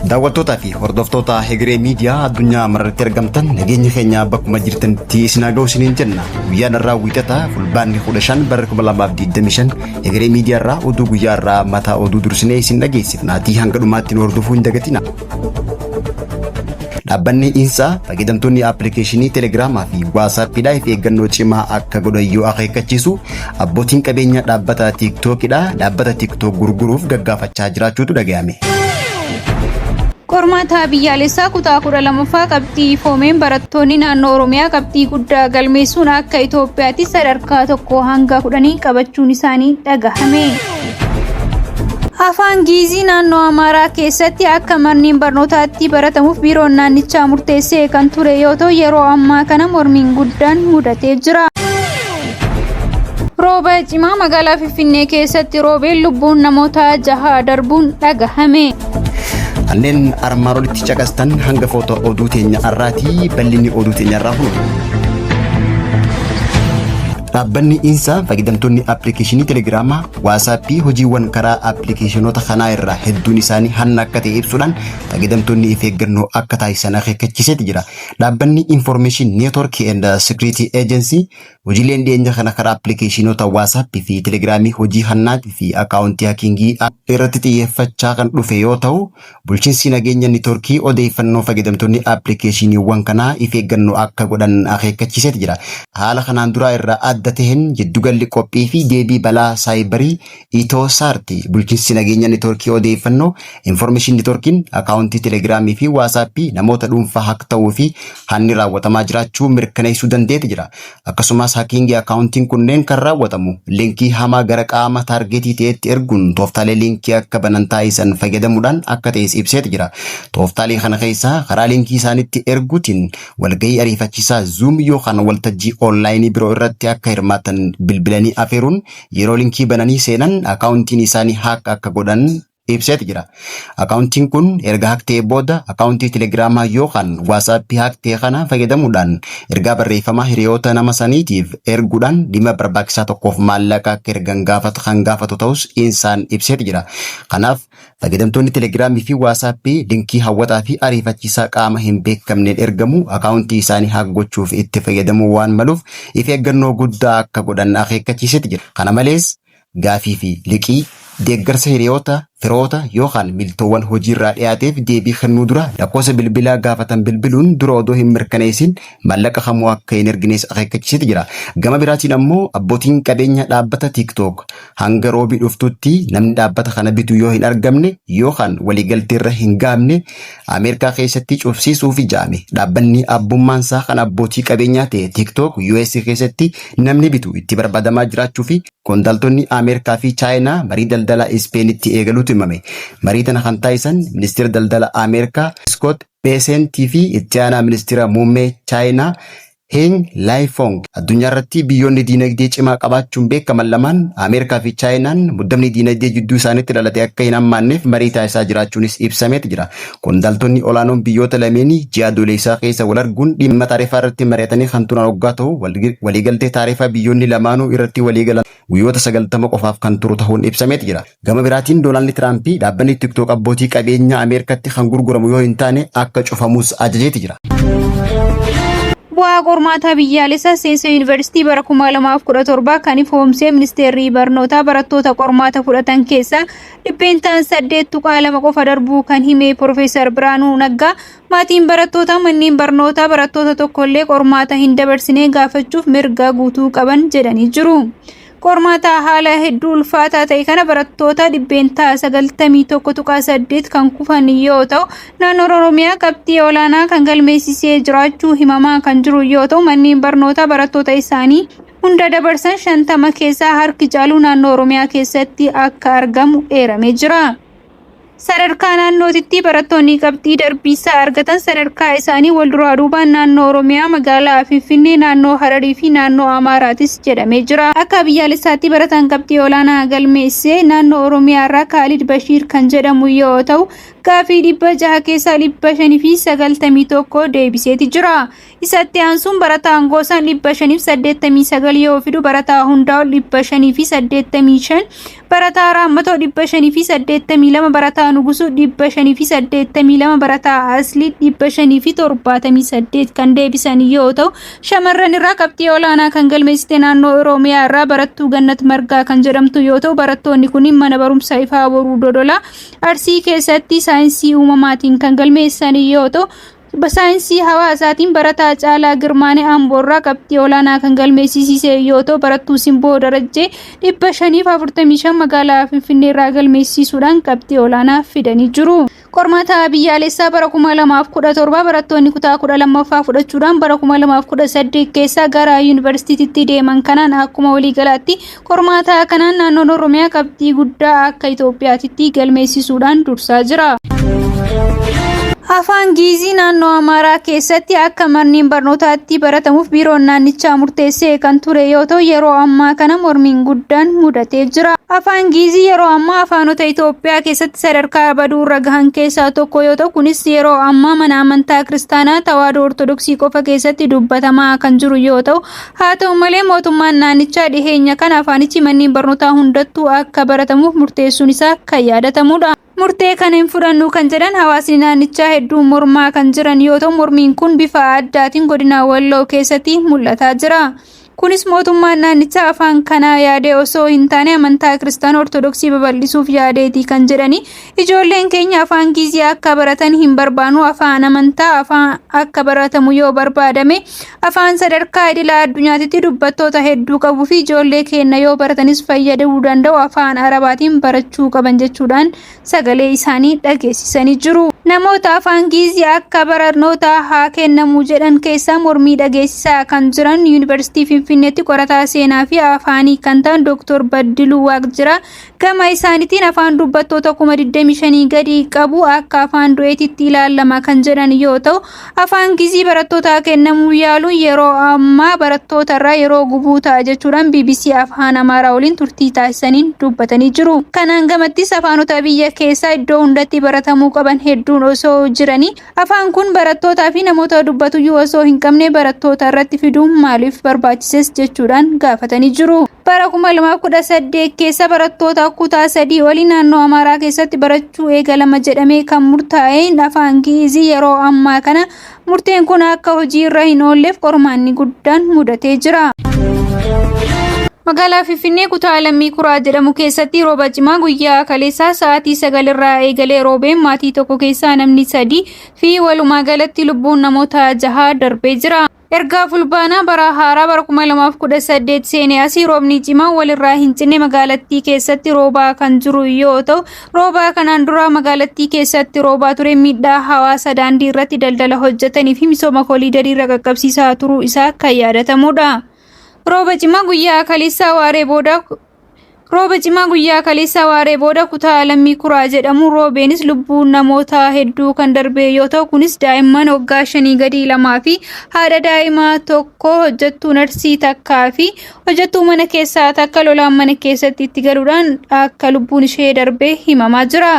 Daawwattootaa fi hordoftoota Hegeree Miidiyaa addunyaa mararratti argamtan nageenya keenya bakkuma jirtanitti isin haa ga'u isiniin jenna. Guyyaan irraa wiixata fulbaanni 15 bara 2025 Hegeree Miidiyaa irraa oduu guyyaa irraa mataa oduu dursinee isin dhageessifnaatii hanga dhumaatti nu hordofuu hin dagatina. Dhaabbanni Insaa fayyadamtoonni appilikeeshinii Telegiraamaa fi Waasaappiidhaa if eeggannoo cimaa akka godhan yoo akeekkachiisu abbootiin qabeenya dhaabbata Tiiktookidha dhaabbata Tiiktook gurguruuf gaggaafachaa jiraachuutu dhaga'ame. Qormaata biyyaalessaa kutaa 12ffaa qabxii ifoomeen barattoonni naannoo Oromiyaa qabxii guddaa galmeessuun akka Itoophiyaatti sadarkaa tokko hanga kudhanii qabachuun isaanii dhagahame. Afaan Giizii naannoo Amaaraa keessatti akka manneen barnootaatti baratamuuf biiroon naannichaa murteessee kan ture yoo ta'u yeroo ammaa kana mormiin guddaan mudatee jira. Rooba cimaa magaalaa Finfinnee keessatti roobeen lubbuun namoota jahaa darbuun dhagahame. Kanneen armaan olitti caqastan hanga footoo oduu teenya irraati bal'inni oduu teenya irraa hunda. Dhaabbanni Insa fayyadamtoonni appilikeeshinii Telegiraamaa, Waasaappii hojiiwwan karaa appilikeeshinoota kanaa irraa hedduun isaanii hanna akka ta'e ibsuudhaan fayyadamtoonni if eeggannoo akka taasisan akeekkachiiseeti jira. Dhaabbanni Information Network and Security Agency hojiileen dhiyeenya kana karaa appilikeeshinoota Waasaappii fi Telegiraamii hojii hannaatii fi akaawuntii hakiingii irratti xiyyeeffachaa kan dhufe yoo ta'u, Bulchinsii nageenya nitoorkii odeeffannoo fayyadamtoonni appilikeeshiiniiwwan kanaa if eeggannoo akka godhan akeekkachiiseeti jira. Haala kanaan duraa irraa adda taheen jiddugalli qophii fi deebii balaa saayibarii Itoo Saarti bulchinsii nageenya nitoorkii odeeffannoo, information nitoorkiin, akaawuntii telegiraamii fi waasaappii namoota dhuunfaa hack tahuu fi hanni raawwatamaa jiraachuu mirkaneessuu dandeeti jira. Akkasumas hakiingii akkaawuntiin kunneen kan raawwatamu linkii hamaa gara qaama taargeetii ta'etti erguun tooftaalee linkii akka banan taasisan fayyadamuudhaan akka ta'es ibseeti jira. Tooftaalee kana keessaa karaa linkii isaanitti erguutiin walgahii ariifachiisaa Zoom yookaan waltajjii onlaayinii biroo irratti akka hirmaatan bilbilanii afeeruun yeroo linkii bananii seenan akkaawuntiin isaanii haak akka godhan ibseeti jira. Akaawuntiin kun erga haak ta'ee booda akaawuntii telegiraamaa yookaan waasaappii haak ta'e kana fayyadamuudhaan ergaa barreeffamaa hiriyoota nama saniitiif erguudhaan dhimma barbaachisaa tokkoof maallaqa akka ergan gaafatu kan gaafatu ta'us insaan ibseeti jira. Kanaaf fayyadamtoonni telegiraamii fi waasaappii linkii hawwataa fi ariifachiisaa qaama hin beekamneen ergamu akaawuntii isaanii haak gochuuf itti fayyadamuu waan maluuf if eeggannoo guddaa akka godhan akeekkachiiseeti jira. Kana malees Gaafii fi liqii, deeggarsa hiriyoota, firoota yookaan miltoowwan hojiirraa dhiyaateef deebii kennuu dura lakkoofsa bilbilaa gaafatan bilbiluun dura odoo hin mirkaneessin maallaqa kamuu akka hin ergines akeekkachiiseeti jira. Gama biraatiin ammoo abbootiin qabeenya dhaabbata TikTok hanga Roobii dhuftuutti namni dhaabbata kana bitu yoo hin argamne yookaan waliigalteerra hin gahamne Ameerikaa keessatti cufsiisuufi ja'ame. Dhaabbanni abbummaansaa kan abbootii qabeenyaa ta'e TikTok US keessatti namni bitu itti barbaadamaa jiraachuufi Qondaaltonni Ameerikaa fi Chaayinaa marii daldalaa Ispeenitti eegaluutu himame. Marii tana kan taasisan Ministira Daldala Ameerikaa Iskoot Beeseent fi Itti Aanaa Ministira Muummee Chaayinaa Heng Laayifong. Addunyaarratti biyyoonni diinagdee cimaa qabaachuun beekaman lamaan Ameerikaa fi Chaayinaan muddamni diinagdee jidduu isaanitti dhalate akka hin hammaanneef marii taasisaa jiraachuunis ibsameet jira. Qondaaltonni olaanoon biyyoota lameenii ji'a Adoolessaa keessa wal arguun dhimma taarifaa irratti mari'atanii kan turan oggaa ta'u, waliigaltee taarifaa biyyoonni lamaanuu irratti waliigalan guyyoota 90 qofaaf kan turu tahuun ibsameeti jira. Gama biraatiin Doonaaldi Tiraampi dhaabbanni TikTok abbootii qabeenyaa Ameerikaatti kan gurguramu yoo hin taane akka cufamus ajajeeti jira. Bu'aa qormaataa biyyaalessaa seensa yuunivarsiitii bara 2017 kan ifoomsee ministeerri barnootaa barattoota qormaata fudhatan keessaa dhibbeentaan 8.2 qofa darbuu kan hime Piroofeesar Biraanuu Naggaa, maatiin barattoota manneen barnootaa barattoota tokkollee qormaata hin dabarsine gaafachuuf mirga guutuu qaban jedhanii jiru. Qormaata haala hedduu ulfaataa ta'e kana barattoota dhibbeentaa 91.8 kan kufan yoo ta'u, naannoon Oromiyaa qabxii olaanaa kan galmeessisee jiraachuu himamaa kan jiru yoo ta'u, manneen barnootaa barattoota isaanii hunda dabarsan 50 keessaa harki caalu naannoo Oromiyaa keessatti akka argamu eeramee jira. Sadarkaa naannootitti barattoonni qabxii darbiisaa argatan sadarkaa isaanii wal duraa duubaan naannoo Oromiyaa, magaalaa Finfinnee, naannoo Hararii fi naannoo Amaaraatis jedhamee jira. Akka biyyaalessaatti barataan qabxii olaanaa galmeessee naannoo Oromiyaa irraa Kaalid Bashiir kan jedhamu yoo ta'u, gaaffii 600 keessaa 591 deebiseeti jira. Isa itti aansuun barataan Goosaan 589 yoo fidu barataa Hundaa'ol 585, barataa Raammatoo 582, barataa Nugusuu 582, barataa Aslii 578 kan deebisan yoo ta'u, shamarran irraa qabxii olaanaa kan galmeessite naannoo Oromiyaa irraa barattuu Gannat Margaa kan jedhamtu yoo ta'u, barattoonni kun mana barumsa Ifaa Boruu Dodolaa Arsii keessatti saayinsii uumamaatiin kan galmeessan yoo ta'u, Tibba saayinsii hawaasaatiin barataa Caalaa Girmaanee Amboorraa qabxii olaanaa kan galmeessisiise yoo ta'u, barattuu Simboo Darajjee 545 magaalaa Finfinneerraa galmeessisuudhaan qabxii olaanaa fidanii jiru. Qormaata biyyaalessaa bara 2017 barattoonni kutaa 12ffaa fudhachuudhaan bara 2018 keessa gara yuunivarsiitiitti deeman kanaan akkuma waliigalaatti Qormaata kanaan naannoon Oromiyaa qabxii guddaa akka Itoophiyaatitti galmeessisuudhaan dursaa jira. Afaan Giizii naannoo Amaaraa keessatti akka manneen barnootaatti baratamuuf biiroon naannichaa murteessee kan ture yoo ta'u yeroo ammaa kana mormiin guddaan mudatee jira. Afaan Giizii yeroo ammaa afaanota Itoophiyaa keessatti sadarkaa baduu irra gahan keessaa tokko yoo ta'u kunis yeroo ammaa mana amantaa kiristaanaa Tawaahidoo Ortodoksii qofa keessatti dubbatamaa kan jiru yoo ta'u Haa ta'u malee mootummaan naannichaa dhiheenya kana afaanichi manneen barnootaa hundattuu akka baratamuuf murteessuun isaa kan yaadatamudha. Murtee kana hin fudhannu kan jedhan hawaasni naannichaa hedduun mormaa kan jiran yoo ta'u mormiin kun bifa addaatiin godina Walloo keessatti mul'ataa jira. Kunis mootummaan naannichaa afaan kanaa yaadee osoo hin taane amantaa Kiristaana Ortodoksii babal'isuuf yaadeeti kan jedhani Ijoolleen keenya afaan Giizii akka baratan hin barbaanu. Afaan amantaa afaan akka baratamu yoo barbaadame afaan sadarkaa idila addunyaatitti dubbattoota hedduu qabuu fi ijoollee keenya yoo baratanis fayyaduu danda'u afaan Arabaatiin barachuu qaban jechuudhaan sagalee isaanii dhageessisanii jiru. Namoota afaan Giizii akka barnootaa haa kennamu jedhan keessaa mormii dhageessisaa kan jiran Yuunivarsiitii Finfinneetti qorataa seenaa fi afaanii kan ta'an Dooktor Baddiluu Waaqjiraa Gama isaanitiin afaan dubbattoota kuma 25 gadi qabu akka afaan du'eetitti ilaalama kan jedhan yoo ta'u, afaan Gizii barattootaa kennamuu yaaluun yeroo ammaa barattootarraa yeroo gubuu ta'a jechuudhaan bbc Afaan Amaaraa waliin turtii taasisaniin dubbatanii jiru. Kanaan gamattis afaanota biyya keessaa iddoo hundatti baratamuu qaban hedduun osoo jiranii Afaan kun barattootaa fi namoota dubbatuyyuu osoo hin qabne barattoota irratti fiduun maaliif barbaachises jechuudhaan gaafatanii jiru. Bara 2018 keessa barattoota kutaa sadii olii naannoo Amaaraa keessatti barachuu eegalama jedhamee kan murtaa'een afaan Gi'iizii yeroo ammaa kana murteen kun akka hojii irra hin oolleef qormaanni guddaa guddaan mudatee jira. Magaalaa Finfinnee kutaa Lammii Kuraa jedhamu keessatti rooba cimaa guyyaa kaleessaa sa'aatii sagal irraa eegalee roobeen maatii tokko keessaa namni sadii fi walumaa galatti lubbuun namoota jahaa darbee jira. Ergaa fulbaanaa bara haaraa bara 2018 seenee asii roobni cimaa walirraa hin cinne magaalattii keessatti roobaa kan jiru yoo ta'u Roobaa kanaan duraa magaalattii keessatti roobaa ture miidhaa hawaasa daandii irratti daldala hojjetanii fi misooma koliidarii irra qaqqabsiisaa turuu isaa kan yaadatamudha. Rooba cimaa guyyaa kaleessaa waaree booda Rooba cimaa guyyaa kaleessaa waaree booda kutaa lammii kuraa jedhamu roobeenis lubbuu namoota hedduu kan darbee yoo ta'u kunis daa'imman waggaa shanii gadii lamaa fi haadha daa'imaa tokko hojjettuu narsii takkaa fi Hojjettuu mana keessaa takka lolaan mana keessatti itti galuudhaan akka lubbuun ishee darbee himamaa jira.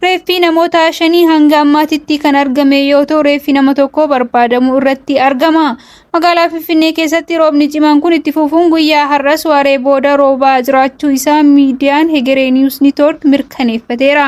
Reeffii namoota shanii hanga ammaatitti kan argame yoo ta'u reeffi nama tokko barbaadamuu irratti argama. Magaalaa Finfinnee keessatti roobni cimaan kun itti fufuun guyyaa har'as waaree booda roobaa jiraachuu isaa miidiyaan Hegeree Niwus Niitoork mirkaneeffateera.